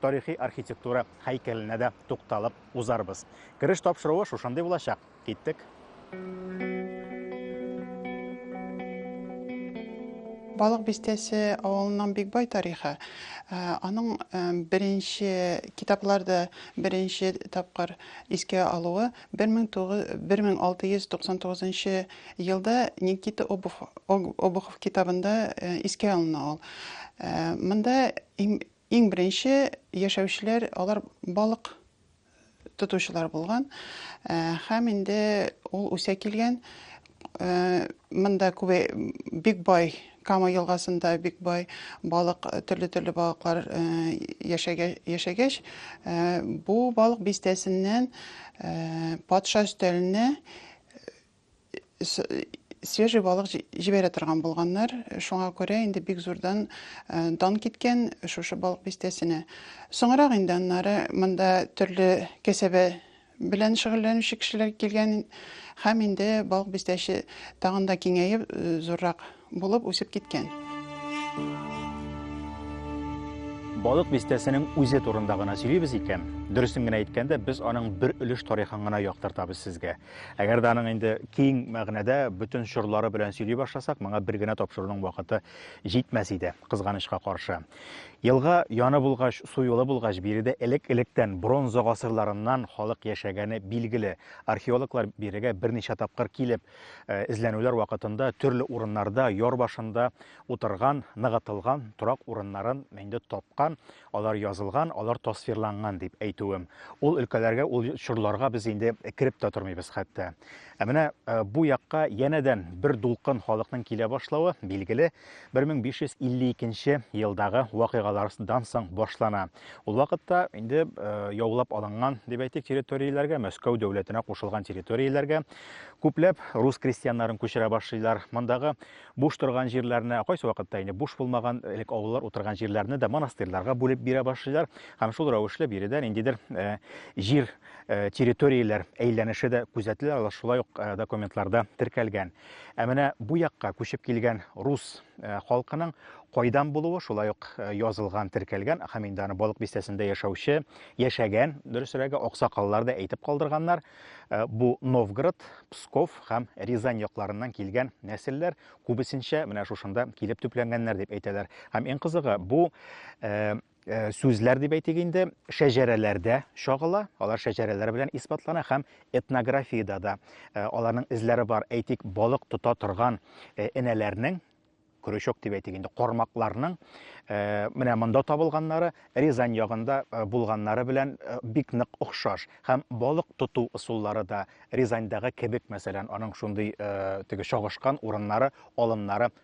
тарихи архитектура һәйкәленә дә тукталып узарбыз. Кереш тапшыруы шушындый булачак. Киттек. Балык бистәсе авылының бик бай тарихы. Э, аның э, беренче китапларда беренче тапкыр искә алуы 1699 елда Никита Обухов китабында э, искә алына ул. Монда Иң беренче яшәүчеләр алар балык тотучылар булган һәм инде ул үсә килгән монда күбе бик бай Кама елгасында бик бай балык, төрле-төрле балыклар яшәгәч, бу балык бистәсеннән патша өстәленә свежий балык җибәрә торган булганнар. Шуңа күрә инде бик зурдан э, дан киткән шушы балык бистәсенә. Соңрак инде аннары монда төрле кәсәбе белән шөгыльләнүче кешеләр килгән һәм инде балык бистәсе тагын да киңәеп э, зуррак Булып үсеп киткән. Балык бистәсенең үзе турында гына сөйлибез икән, дөресен генә әйткәндә, без аның бер өлеш тарихын гына яктыртабыз сезгә. Әгәр дә аның инде киң мәгънәдә бөтен чорлары белән сөйли башласак, моңа бер генә тапшыруның вакыты җитмәс иде, кызганычка каршы. Елга яны булгач, су юлы булгач, биредә элек-электән бронза гасырларыннан халык яшәгәне билгеле. Археологлар бирегә берничә тапкыр килеп, Э, эзләнүләр вакытында төрле урыннарда яр башында утырган, ныгытылган торак урыннарын инде тапкан, алар язылган, алар тасвирланган дип әйтүем. Ул өлкәләргә, ул чорларга без инде кереп тә тормыйбыз хәтта. Ә менә э, бу якка янәдән бер дулкын халыкның килә башлавы билгеле. 1552 нче елдагы вакыйгалардан соң башлана. Ул вакытта инде э, яулап алынган, дип әйтик, территорияләргә, Мәскәү дәүләтенә кушылган территорияләргә күпләп рус крестьяннарын күчерә башлыйлар. Мондагы буш торган җирләрне, кайсы вакытта инде буш булмаган элек авыллар утырган җирләрне дә монастырьларга бүлеп бирә башлыйлар. Һәм шул рәвешле биредә ниндидер э, җир э, территорияләр әйләнеше дә күзәтелә, шулай ук документларда теркәлгән. Ә менә бу якка күчеп килгән рус халкының кайдан булуы, шулай ук язылган, теркәлгән, һәм инде аны Балык бистәсендә яшәүче, яшәгән, дөресрәге, аксакаллар да әйтеп калдырганнар. Бу Новгород, Псков һәм Рязань якларыннан килгән нәселләр күбесенчә менә шушында килеп төпләнгәннәр дип әйтәләр. Һәм иң кызыгы, бу Э, сүзләр дип әйтик инде шәҗәрәләрдә чагыла алар шәҗәрәләр белән исбатлана һәм этнографиядә дә э, аларның эзләре бар әйтик балык тота торган э, энәләрнең крючок дип әйтик инде кармакларның менә монда табылганнары рязань ягында булганнары белән бик нык охшаш һәм балык тоту ысуллары да рязаньдагы кебек мәсәлән аның шундый теге чагышкан урыннары алымнары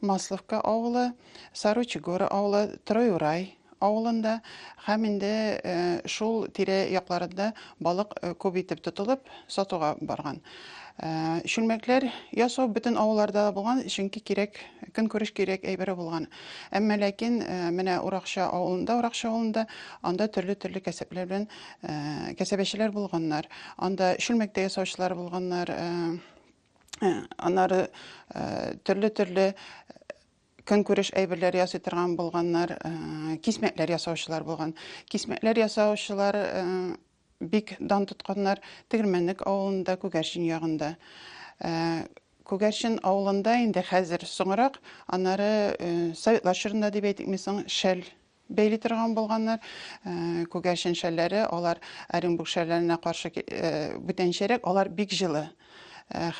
Масловка авылы, Саручи горы авылы, Троюрай авылында һәм инде шул тирә якларында балык күп итеп тотылып, сатуга барган. Чүлмәкләр ясау бөтен авылларда булган, чөнки кирәк, көнкүреш кирәк әйбере булган. Әмма ләкин менә Уракча авылында, Уракча авылында анда төрле-төрле кәсепләр белән кәсәбәчеләр булганнар. Анда чүлмәктә ясаучылар булганнар, Э, анары э, төрле төрле э, көнкүреш әйберләр ясый торган булганнар кисмәтләр ясаучылар булган кисмәтләр ясаучылар бик дан тотканнар тегермәнлек авылында күгәрчен ягында күгәрчен авылында инде хәзер соңрак анары советлар чорында дип әйтикме соң шәл бәйли торган булганнар. Күгәрчен шәлләре, алар Оренбург шәлләренә каршы бүтәнчәрәк, алар бик җылы.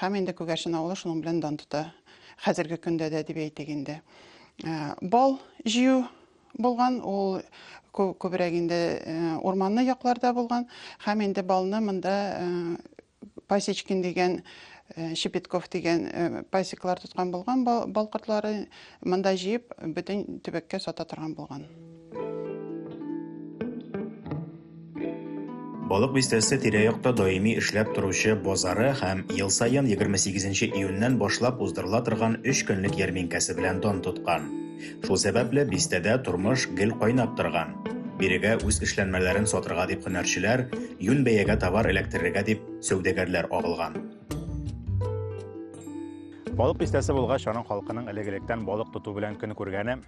Һәм инде Күгәрчен авылы шуның белән дан тота. Хәзерге көндә дә дип әйтик инде. Бал җыю булган, ул күбрәк инде урманлы якларда булган. Һәм инде балны монда Пасечкин дигән э, Щепетков дигән э, пасеклар тоткан булган бал кортлары монда җыеп бөтен төбәккә сата торган булган. Балык бистәсе тирә-якта даими эшләп торучы базары һәм ел саен 28 июньнән башлап уздырыла торган 3 көнлек ярминкәсе белән дан тоткан. Шул сәбәпле бистәдә тормыш гел кайнап торган. Бирегә үз эшләнмәләрен сатырга дип һөнәрчеләр, юнь бәягә товар эләктерергә дип сәүдәгәрләр агылган. Балык бистәсе булгач, аның халкының элек-электән балык тоту белән көн күргәне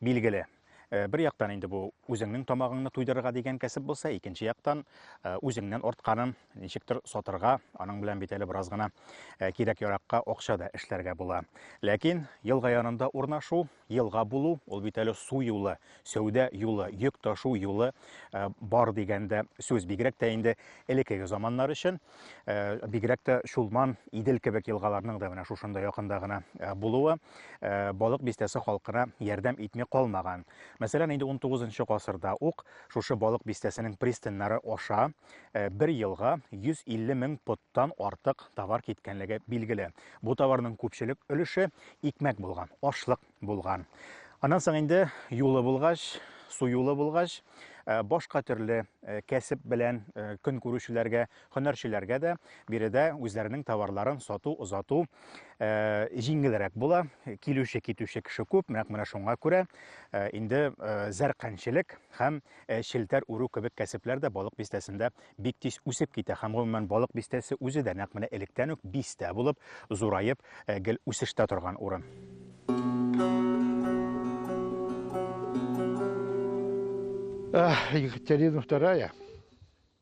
билгеле. Э, бер яктан инде бу үзеңнең тамагыңны туйдырырга дигән кәсеп булса, икенче яктан э, үзеңнән артканын Ничектер сатырга, аның белән бит әле бераз гына э, кирәк-яракка акча да эшләргә була. Ләкин елга янында урнашу, елга булу, ул бит әле су юлы, сәүдә юлы, йөк ташу юлы э, бар дигәндә сүз. Бигрәк тә инде элеккеге заманнар өчен, э, бигрәк тә Чулман, Идел кебек елгаларның да менә шушында якында гына булуы балык бистәсе халкына ярдәм итми калмаган. Мәсәлән, инде 19 гасырда ук шушы балык бистәсенең пристаньнары аша э, бер елга 150 мең поттан артык товар киткәнлеге билгеле. Бу товарның күпчелек өлеше икмәк булган, ашлык булган. Аннан соң инде юлы булгач, су юлы булгач, э, башка төрле э, кәсеп белән көн күрүчеләргә, һөнәрчеләргә дә биредә үзләренең товарларын сату, озату җиңелрәк була. Килүче, китүче кеше күп, менә шуңа күрә инде зәркәнчелек һәм Ә челтәр үрү кебек кәсепләр дә Балык Бистәсендә бик тиз үсеп китә һәм, гомумән, Балык Бистәсе үзе дә нәкъ менә электән үк бистә булып, зураеп, гел үсештә торган урын. Екатерина вторая.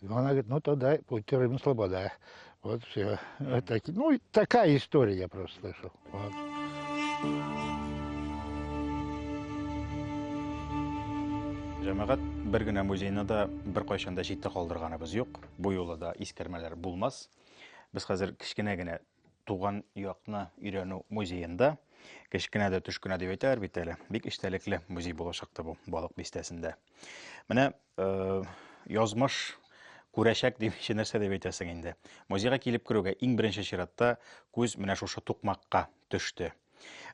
И она говорит, ну тогда будьте Рим Слобода. Вот все. Вот так, ну, такая история я просто слышал. Вот. Җәмәгать бер генә музейны да бер кайчан да читтә калдырганыбыз юк. Бу юлы да искәрмәләр булмас. Без хәзер кечкенә генә Туган якны өйрәнү музеенда кечкенә дә төш кенә дип әйтәләр бит әле. Бик эчтәлекле музей булачакты бу балык бистәсендә. Менә э, язмыш күрәчәк дип чи нәрсә дип әйтәсең инде. Музейга килеп керүгә иң беренче чиратта күз менә шушы тукмакка төште.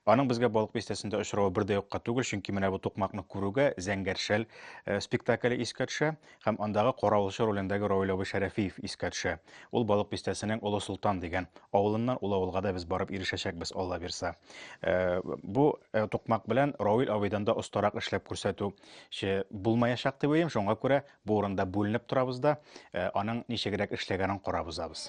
Аның безгә Балык бистәсендә очравы бер дә юкка түгел, чөнки менә бу тукмакны күрүгә Зәңгәршәл э, спектакле искә төшә һәм андагы каравылчы ролендәге Равил абый Шәрәфиев искә төшә. Ул Балык бистәсенең Олы Солтан дигән авылыннан, ул авылга да без барып ирешәчәкбез, Алла бирса. Э, бу э, тукмак белән Равил абыйдан да остарак эшләп күрсәтү булмаячак дип уйлыйм, шуңа күрә бу урында бүленеп торабыз да, аның ничегрәк эшләгәнен карап узабыз.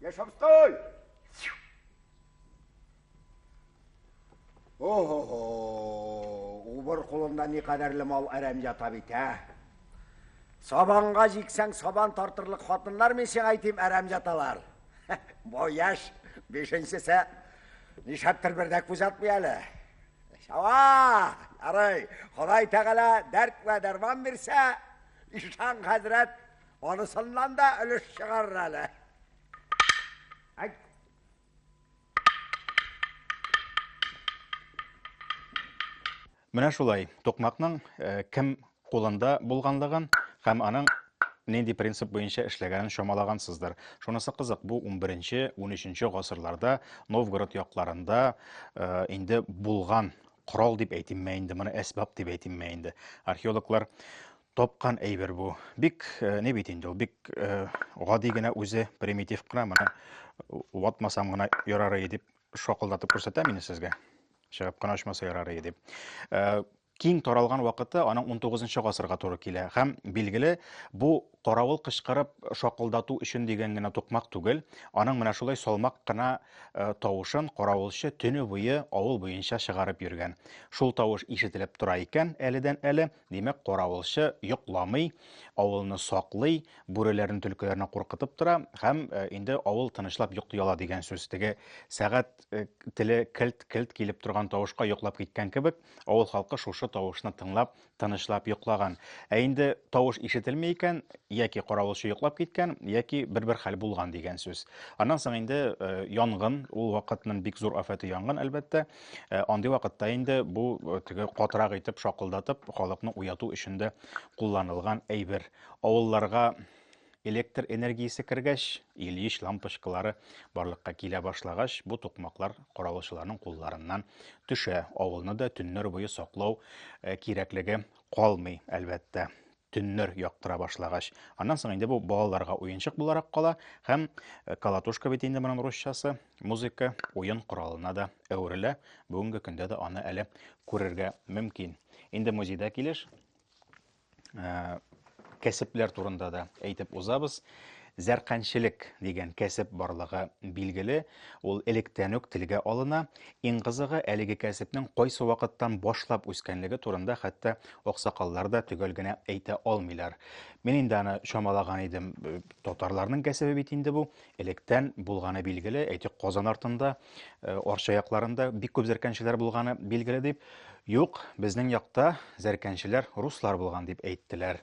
Яшавской! Охо-хо! Убыр кулында ни кадәрле мал әрәм ята бит, ә? Сабанга җиксәң, сабан тартырлык хатыннар мин сиңа әйтим, әрәм яталар. Бу яшь, бишенчесе нишәптер бер дә күз атмый әле. Шава! Ярый, Ходай Тәгалә дәрт вә дәрман бирсә, ишан хәзрәт Анысыннан да өлеш чыгарыр әле. Әйт. Менә шулай, токмакның э, кем кулында булганлыгын һәм аның нинди принцип буенча эшләгәнен чамалагансыздыр. Шунысы кызык, бу 11-13 гасырларда Новгород якларында э, инде булган корал дип әйтимме инде, моны әсбап дип әйтимме инде. Археологлар тапкан әйбер бу. Бик э, не бит инде ул, бик э, гади генә үзе, примитив кына, менә ватмасам гына ярар иде дип шакылдатып күрсәтәм инде сезгә. Чыгып кына очмаса ярар иде дип. Э, киң таралган вакыты аның 19 гасырга туры килә һәм билгеле бу каравыл кычкырып шакылдату өчен дигән генә тукмак түгел аның менә шулай салмак кына э, тавышын каравылчы төне буе авыл буенча чыгарып йөргән шул тавыш ишетелеп тора икән әледән әле Димәк, каравылчы йокламый, авылны саклый, бүреләрне, төлкеләрне куркытып тора һәм э, инде авыл тынычлап йокли ала дигән сүз. Теге сәгать э, теле келт-келт килеп торган тавышка йоклап киткән кебек, авыл халкы шушы тавышны тыңлап, тынычлап йоклаган. Ә инде тавыш ишетелми икән, яки каравылчы йоклап киткән, яки бер-бер хәл булган дигән сүз. Аннан соң инде э, янгын, ул вакытның бик зур афәте янгын, әлбәттә. Э, андый вакытта инде бу э, теге катырак итеп шакылдатып халыкны уяту өчен дә кулланылган әйбер. Авылларга электр энергиясе кергәч, Ильич лампочкалары барлыкка килә башлагач, бу тукмаклар каравылчыларның кулларыннан төшә. Авылны да төннәр буе саклау э, кирәклеге калмый, әлбәттә. Төннәр яктыра башлагач. Аннан соң инде бу балаларга уенчык буларак кала һәм э, колотушка бит инде моның русчасы, музыка, уен коралына да әверелә. Бүгенге көндә дә аны әле күрергә мөмкин. Инде музейда килеш, э, кәсепләр турында да әйтеп узабыз. Зәрканчелек дигән кәсеп барлыгы билгеле, ул электән үк телгә алына. Иң кызыгы, әлеге кәсепнең кайсы вакыттан башлап үскәнлеге турында хәтта аксакаллар да төгәл генә әйтә алмыйлар. Мин инде аны чамалаган идем. Татарларның кәсебе бит инде бу. Электән булганы билгеле, әйтик, Казан артында, э, Арча якларында бик күп зәрканчеләр булганы билгеле дип. Юк, безнең якта зәрканчеләр руслар булган дип әйттеләр.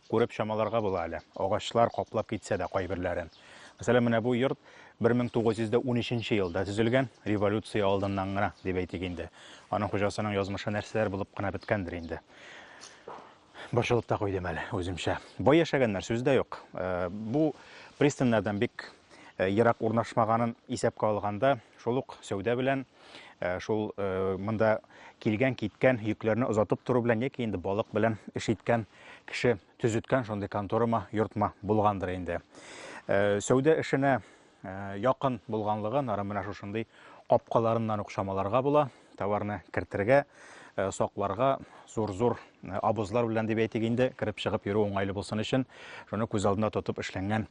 Күреп чамаларга була әле, агачлар каплап китсә дә кайберләрен. Мәсәлән, менә бу йорт 1913 нче елда төзелгән, революция алдыннан гына, дип әйтик инде. Аның хуҗасының язмышы нәрсәләр булып кына беткәндер инде. Борчылып та куйдым әле үземчә. Бай яшәгәннәр, сүз дә юк. Э, бу пристаньнардан бик э, ерак урнашмаганын исәпкә алганда, шул ук сәүдә белән, э, шул э, монда килгән, киткән йөкләрне озатып тору белән яки инде балык белән эш иткән кеше төзеткән шундый конторама, йортма булгандыр инде. Сәүдә эшенә якын булганлыгын ары менә шушындый капкаларыннан ук чамаларга була. Товарны кертергә, э, сакларга зур-зур э, абызлар белән дип әйтик инде, кереп чыгып йөрү уңайлы булсын өчен, шуны күз алдына тотып эшләнгән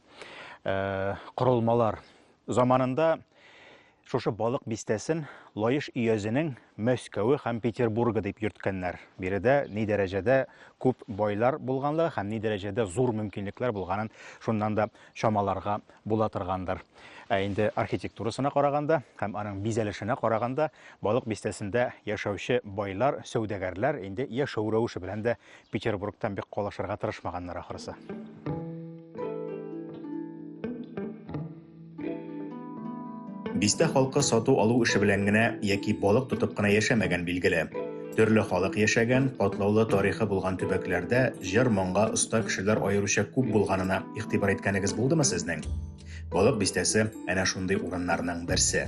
э, корылмалар. Заманында шушы балык бистәсен Лаеш өязенең Мәскәве һәм Петербургы дип йөрткәннәр. Биредә ни дәрәҗәдә күп байлар булганлыгы һәм ни дәрәҗәдә зур мөмкинлекләр булганын шуннан да чамаларга була торгандыр. Ә инде архитектурасына караганда һәм аның бизәлешенә караганда Балык бистәсендә яшәүче байлар, сәүдәгәрләр инде яшәү рәвеше белән дә Петербургтан бик калышырга тырышмаганнар ахрысы. Бистә халкы сату-алу эше белән генә яки балык тотып кына яшәмәгән, билгеле. Төрле халык яшәгән, катлаулы тарихы булган төбәкләрдә җыр-моңга оста кешеләр аеруча күп булганына игътибар иткәнегез булдымы сезнең? Балык бистәсе әнә шундый урыннарның берсе.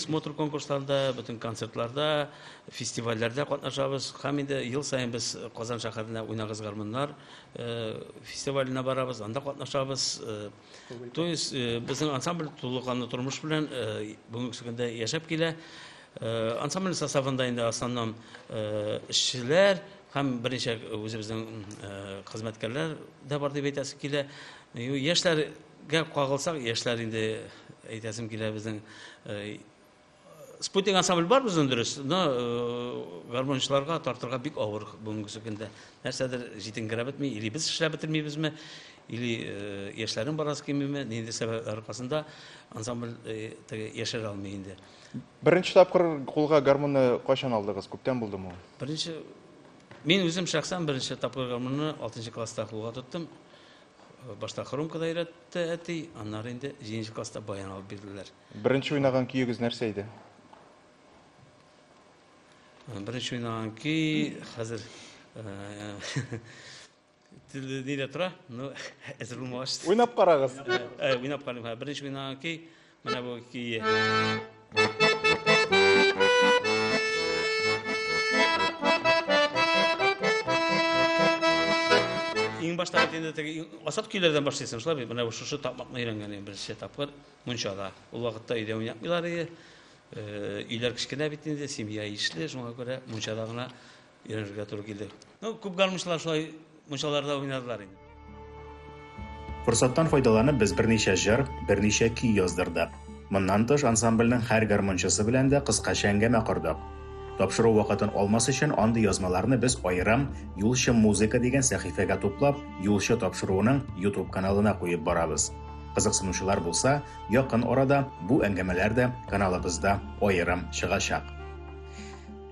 Смотр конкурсларда, бөтен концертларда, фестивальләрдә катнашабыз. Һәм инде ел саен без Казан шәһәренә уйнагыз гармуннар фестиваленә барабыз, анда катнашабыз. То есть безнең ансамбль тулыканлы тормыш белән бүгенге көндә яшәп килә. Ансамбль составында инде основном эшчеләр һәм берничә үзебезнең хезмәткәрләр дә бар дип әйтәсе килә. Яшьләр Гәп кагылсак, яшьләр инде әйтәсем килә безнең спутник ансамбль бар безнең дөрес, но гармончыларга тартырга бик авыр бүгенге көндә. Нәрсәдер җитенгерә бетми, или без эшләп бетермибезме, или яшьләрнең барасы килмиме, нинди сәбәпләр аркасында ансамбль яшерә алмый инде. Беренче тапкыр кулга гармонны кайчан алдыгыз? Күптән булдымы ул? Беренче Мин үзем шәхсән беренче тапкыр гармонны 6 класста кулга тоттым. Башта хромкада өйрәтте әти, аннары инде җиденче класста баян алып бирделәр. Беренче уйнаган көегез нәрсә иде? Беренче уйнаган көй хәзер телде нидә тора? Ну, әзер булмагач. Уйнап карагыз. Уйнап карыйм. Беренче уйнаган көй Менә бу көе. Иң башта бит инде теге асат көйләрдән башлыйсың, шулай бит. Менә шушы тапмакны өйрәнгән идем беренче тапкыр мунчада. Ул вакытта өйдә уйнатмыйлар иде. Э, өйләр кечкенә бит инде, семья ишле, шуңа күрә мунчада гына Өйрәнергә туры килде. Ну, күп гармунчылар шулай мунчаларда уйнадылар инде. Форсаттан файдаланып без берничә җыр, берничә көй яздырдык. Моннан тыш, ансамбльнең һәр гармунчысы белән дә кыскача әңгәмә кордык. Тапшыру вакытын алмас өчен андый язмаларны без аерым Юлчы музыка дигән сәхифәгә туплап, Юлчы тапшыруының YouTube каналына куеп барабыз. Кызыксынучылар булса, якын арада бу әңгәмәләр дә каналыбызда аерым чыгачак.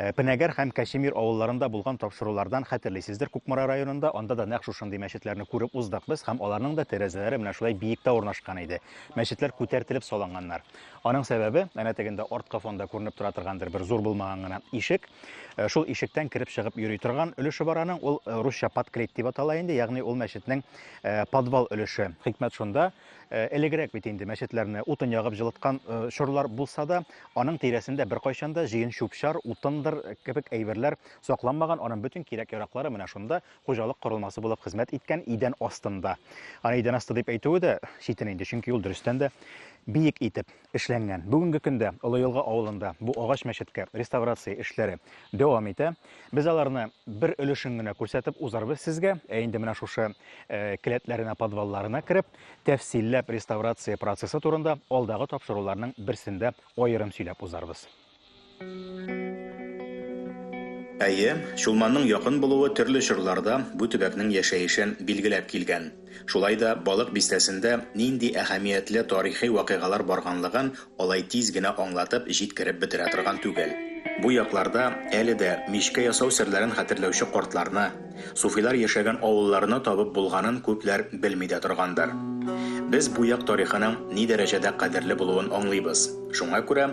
Э, Пенәгәр һәм Кәчемир авылларында булган тапшырулардан хәтерлисездер, Кукмара районында анда да нәкъ шушындый мәчетләрне күреп уздык без һәм аларның да тәрәзәләре менә шулай биектә урнашкан иде. Мәчетләр күтәртелеп салынганнар. Аның сәбәбе, әнә тегендә арткы фонда күренеп тора торгандыр бер зур булмаган гына ишек. Э, шул ишектән кереп чыгып йөри торган өлеше бар аның, ул э, русча подклет дип атала инде, ягъни ул мәчетнең подвал өлеше. Хикмәт шунда, Э, элегрәк бит инде мәчетләрне утын ягып җылыткан э, чорлар булса да, аның тирәсендә беркайчан да җыен чүп-чар, утындыр э, кебек әйберләр сакланмаган, аның бөтен кирәк-яраклары менә шунда хуҗалык корылмасы булып хезмәт иткән идән астында. Аны идән асты дип әйтүе дә читен инде, чөнки ул дөрестән дә биек итеп эшләнгән. Бүгенге көндә Олы Елга авылында бу агач мәчеткә реставрация эшләре дәвам итә. Без аларны бер өлешен генә күрсәтеп узарбыз сезгә. Ә инде менә шушы э, келәтләренә, подвалларына кереп, тәфсилләп реставрация процессы турында алдагы тапшыруларның берсендә аерым сөйләп узарбыз. Әйе, Чулманның якын булуы төрле чорларда бу төбәкнең яшәешен билгеләп килгән. Шулай да Балык Бистәсендә нинди әһәмиятле тарихи вакыйгалар барганлыгын алай тиз генә аңлатып җиткереп бетерә торган түгел. Бу якларда әле дә мичкә ясау серләрен хәтерләүче картларны, суфилар яшәгән авылларны табып булганын күпләр белми дә торгандыр. Без бу як тарихының ни дәрәҗәдә кадерле булуын аңлыйбыз. Шуңа күрә.